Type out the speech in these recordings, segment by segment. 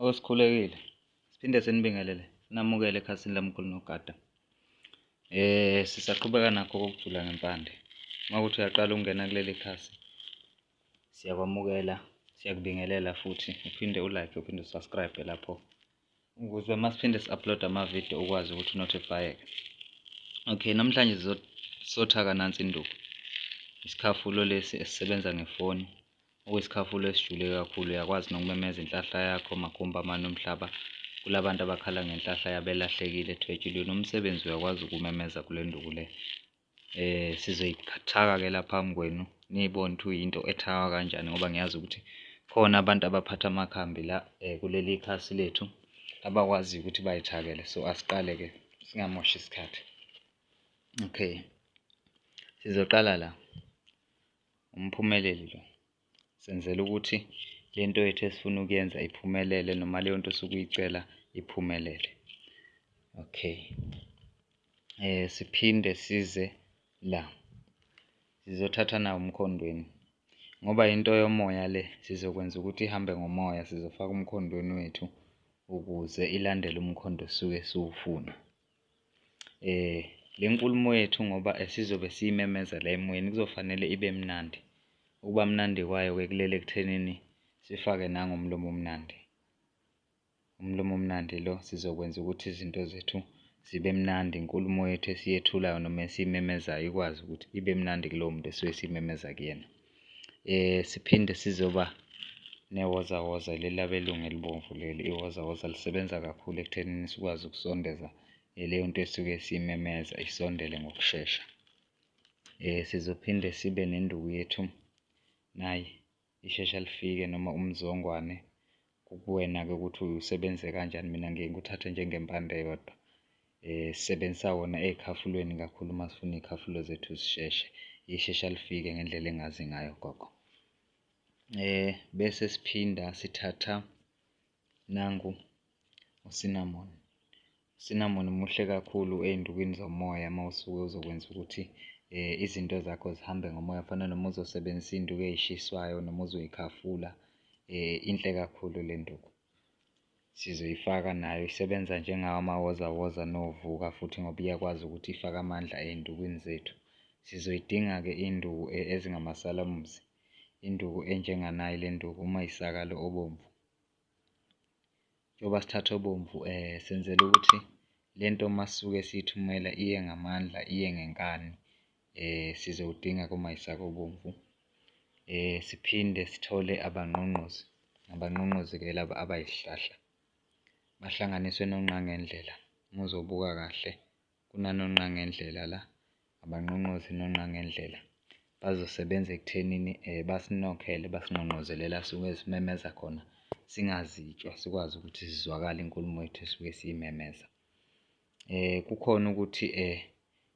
Osikhulekile siphinde sinibingelele sinamukele ekhasini lamkhulu nogada eh sisaqhubeka nakho kokujula ngempande uma ukuthi uyaqala ukungena kuleli khasi siyakwamukela siyakubingelela futhi uphinde ulike uphinde usubscribe lapho ukuze masiphinde si-upload amavidiyo ukwazi ukuthi unothifayeke okay namhlanje sizothaka nansi induku isikhafulo lesi esisebenza ngefoni okuyisikhafulo esijule kakhulu uyakwazi nokumemeza inhlahla yakho makhumba amane omhlaba kulabantu abakhala ngenhlahla yabelahlekile ethwetshulweni umsebenzi uyakwazi ukumemeza kule nduku le Eh sizoyithaka-ke la phambi kwenu niyibone ukuthi uyinto ethakwa kanjani ngoba ngiyazi ukuthi khona abantu abaphatha amakhambi la eh, kuleli khasi lethu abakwaziyo ukuthi bayithakele so asiqale-ke singamoshi isikhathi okay sizoqala la umphumeleli lo senzela ukuthi le nto yethu esifuna ukuyenza iphumelele noma leyo nto osuke uyicela iphumelele okay eh siphinde size la sizothatha nawo umkhondweni ngoba into yomoya le sizokwenza ukuthi ihambe ngomoya sizofaka umkhondweni wethu ukuze ilandele umkhondo osuke siwufuna Eh le nkulumo yethu ngoba esizobe siyimemeza la emoyeni kuzofanele ibe mnandi. Ukuba mnandi kwayo-ke kulele ekuthenini sifake nangomlomo omnandi. Umlomo omnandi lo sizokwenza ukuthi izinto zethu zibe mnandi, inkulumo yethu esiyethulayo noma esiyimemezayo ikwazi ukuthi ibe mnandi kulowo muntu esuke simemeza kuyena. eh siphinde sizoba newozawoza leli abelungu elibomvu leli iwozawoza lisebenza kakhulu ekuthenini sikwazi ukusondeza eh, leyo nto esuke simemeza isondele ngokushesha eh sizophinde sibe nenduku yethu naye ishesha lifike noma umzongwane Kukuwena-ke ukuthi usebenze kanjani, mina ngiye ngikuthathe njengempande yodwa. Um sisebenzisa wona ey'khafulweni kakhulu uma sifuna iy'khafulo zethu zisheshe, lishesha lifike ngendlela engazi ngayo gogo. Um bese siphinda sithatha nangu u-cinnamon, Sinamoni muhle kakhulu ey'ndukwini zomoya uma usuke uzokwenza ukuthi um izinto zakho zihambe ngomoya fana noma uzosebenzisa iy'nduku ey'shiswayo noma uzoyikhafula um inhle kakhulu le nduku. Sizoyifaka nayo isebenza njengawo amawozawoza novuka futhi ngoba iyakwazi ukuthi ifake amandla ey'ndukwini zethu. Sizoyidinga-ke induku ezingamasalamuzi, induku enjenganayi le nduku uma isakalo obomvu. njengoba sithatha obomvu eh senzela ukuthi lento masuke siyithumela iye ngamandla iye ngenkani eh sizowudinga kuma isaka obomvu eh siphinde sithole abanqonqozi abanqonqozi ke laba abayihlahla bahlanganiswe nonqangendlela muzobuka kahle kunanonqangendlela la abanqonqozi nonqangendlela bazosebenza ekuthenini um eh, basinokhele basinqonqozele la suke simemeza khona singazitshwa sikwazi ukuthi sizwakale inkulumo yethu esuke siyimemeza um kukhona ukuthi um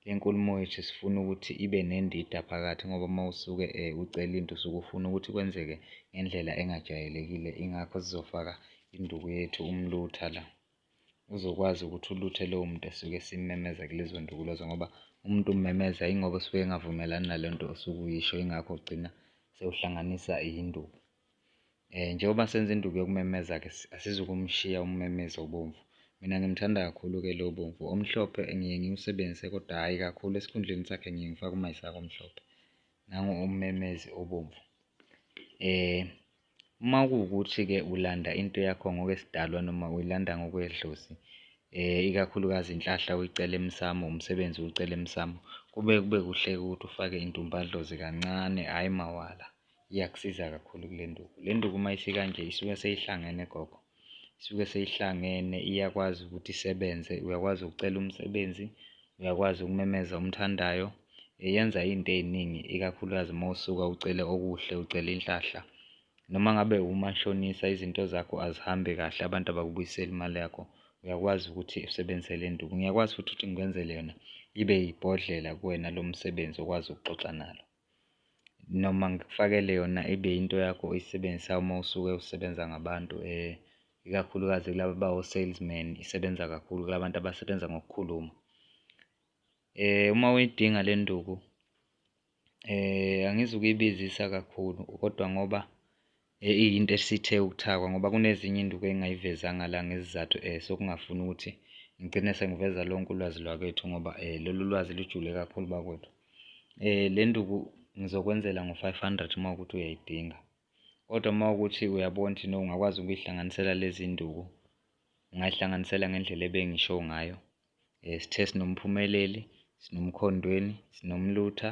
le nkulumo yethu sifuna ukuthi ibe nendida phakathi ngoba uma usuke um ucela into usuke ufuna ukuthi kwenzeke ngendlela engajwayelekile ingakho sizofaka induku yethu umlutha la uzokwazi ukuthi uluthe lowo muntu esuke esimmemeza kulezo ndukulozo ngoba umuntu ummemeza ingoba usuke engavumelani nale nto osuke uyisho ingakho ugcina sewuhlanganisa induku. Eh njengoba senza induku yokumemeza ke asizukumshiya ummemezi obomvu. Mina ngimthanda kakhulu ke lo bomvu. Omhlophe ngiye ngiwusebenzise kodwa hhayi kakhulu esikhundleni sakhe ngiye ngifake umayisaka omhlophe. Nangu ummemezi obomvu. Eh Uma kuwukuthi-ke ulanda into yakho ngokwesidalwa noma uyilanda ngokwedlozi, ikakhulukazi inhlahla uyicela emsamo, umsebenzi uwucela emsamo, kube kube kuhle-ke ukuthi ufake intumbadlozi kancane, hhayi mawala. Iyakusiza kakhulu-ke le nduku. Le nduku uma isikanje isuke seyihlangene gogo. isuke seyihlangene iyakwazi ukuthi isebenze uyakwazi ukucela umsebenzi uyakwazi ukumemeza umthandayo yenza into eziningi ikakhulukazi uma usuka ucele okuhle ucele inhlahla noma ngabe umashonisa izinto zakho azihambi kahle abantu abakubuyiseli imali yakho uyakwazi ukuthi usebenzise le nduku ngiyakwazi futhi ukuthi ngikwenzele yona ibe yibhodlela kuwena lo msebenzi okwazi ukuxoxa nalo noma ngikufakele yona ibe into yakho oyisebenzisa uma usuke usebenza ngabantu ikakhulukazi kulaba bawo-salesman, isebenza kakhulu kula bantu abasebenza ngokukhuluma. Uma uyidinga le nduku angizi ukuyibizisa kakhulu kodwa ngoba Eh iyinto esithe ukuthakwa ngoba kunezinye induku engingayivezanga la ngezizathu eh sokungafuni ukuthi ngigcine sengiveza lonke ulwazi lwakwethu ngoba eh lolu lwazi lujule kakhulu bakwethu. Eh le nduku ngizokwenzela ngo-500 uma ukuthi uyayidinga. Kodwa uma ukuthi uyabona ukuthi no ungakwazi ukuyihlanganisela lezi nduku ungayihlanganisela ngendlela ebengisho ngayo. Eh sithe sinomphumeleli, sinomkhondweni, sinomlutha,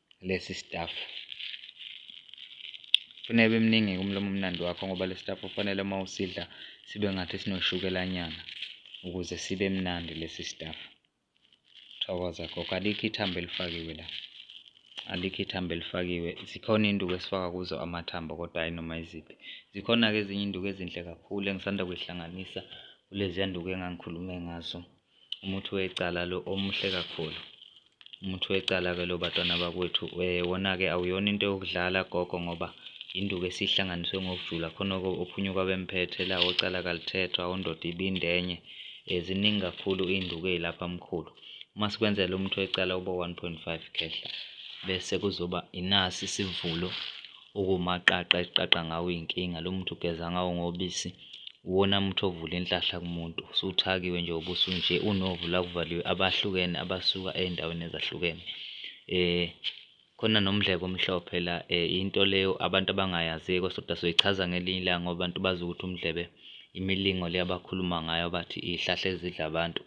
lesi staff kufanele bemningi kumlomo omnandi wakho ngoba lesi staff kufanele uma usidla sibe ngathi sinoshukelanyana ukuze sibe mnandi lesi staff thokoza gogo alikho ithambo elifakiwe la alikho ithambo elifakiwe zikhona iy'nduku esifaka kuzo amathambo kodwa hhayi noma iziphi zikhona-ke ezinye iy'nduku ezinhle kakhulu engisanda kuyihlanganisa kuleziya nduku engangikhulume ngazo umuthi wecala lo omuhle kakhulu umuthi wecala-ke lo batwana bakwethu um eh, wona-ke awuyona into yokudlala gogo ngoba induku esihlanganiswe ngokujula khona-ke ophunyuka bemphethe la ocala kalithethwa ondoda ibindenye um ziningi kakhulu iy'nduku ey'lapha mkhulu uma sikwenzela umuthi wecala uba 1.5 khehla bese kuzoba inasi isivulo okuwumaqaqa eqaqa ngawo iy'nkinga lo muntu ugeza ngawo ngobisi Uwona muthi ovula inhlahla kumuntu usuthakiwe nje ubuso nje unovu la kuvaliwe abahlukene abasuka ey'ndaweni ezahlukene um khona nomdleko omhlophe la um into leyo abantu abangayaziyo kosoda soyichaza ngelinye ilanga ngoba abantu bazi ukuthi umdlebe imilingo le abakhuluma ngayo abathi iy'hlahla ezidla abantu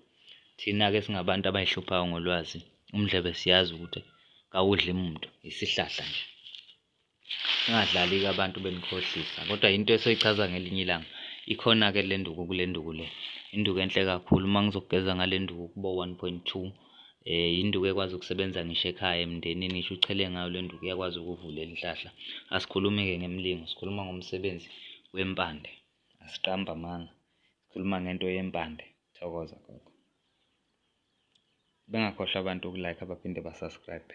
thina-ke singabantu abay'hluphayo ngolwazi umdlebe siyazi ukuthi kawudli muntu isihlahla nje. Ningadlali-ke abantu benikhohlisa kodwa into esoyichaza ngelinye ilanga ikhona ke le nduku kule nduku le induku enhle kakhulu uma ngizokugeza ngale nduku kubo 1.2 eh induku ekwazi ukusebenza ngisho ekhaya emndenini ngisho uchele ngayo le nduku iyakwazi ukuvula inhlahla asikhulumi ke ngemlingo sikhuluma ngomsebenzi wempande asiqamba amanga sikhuluma ngento yempande thokoza gogo bengakhohlwa abantu ukulike abaphinde basubscribe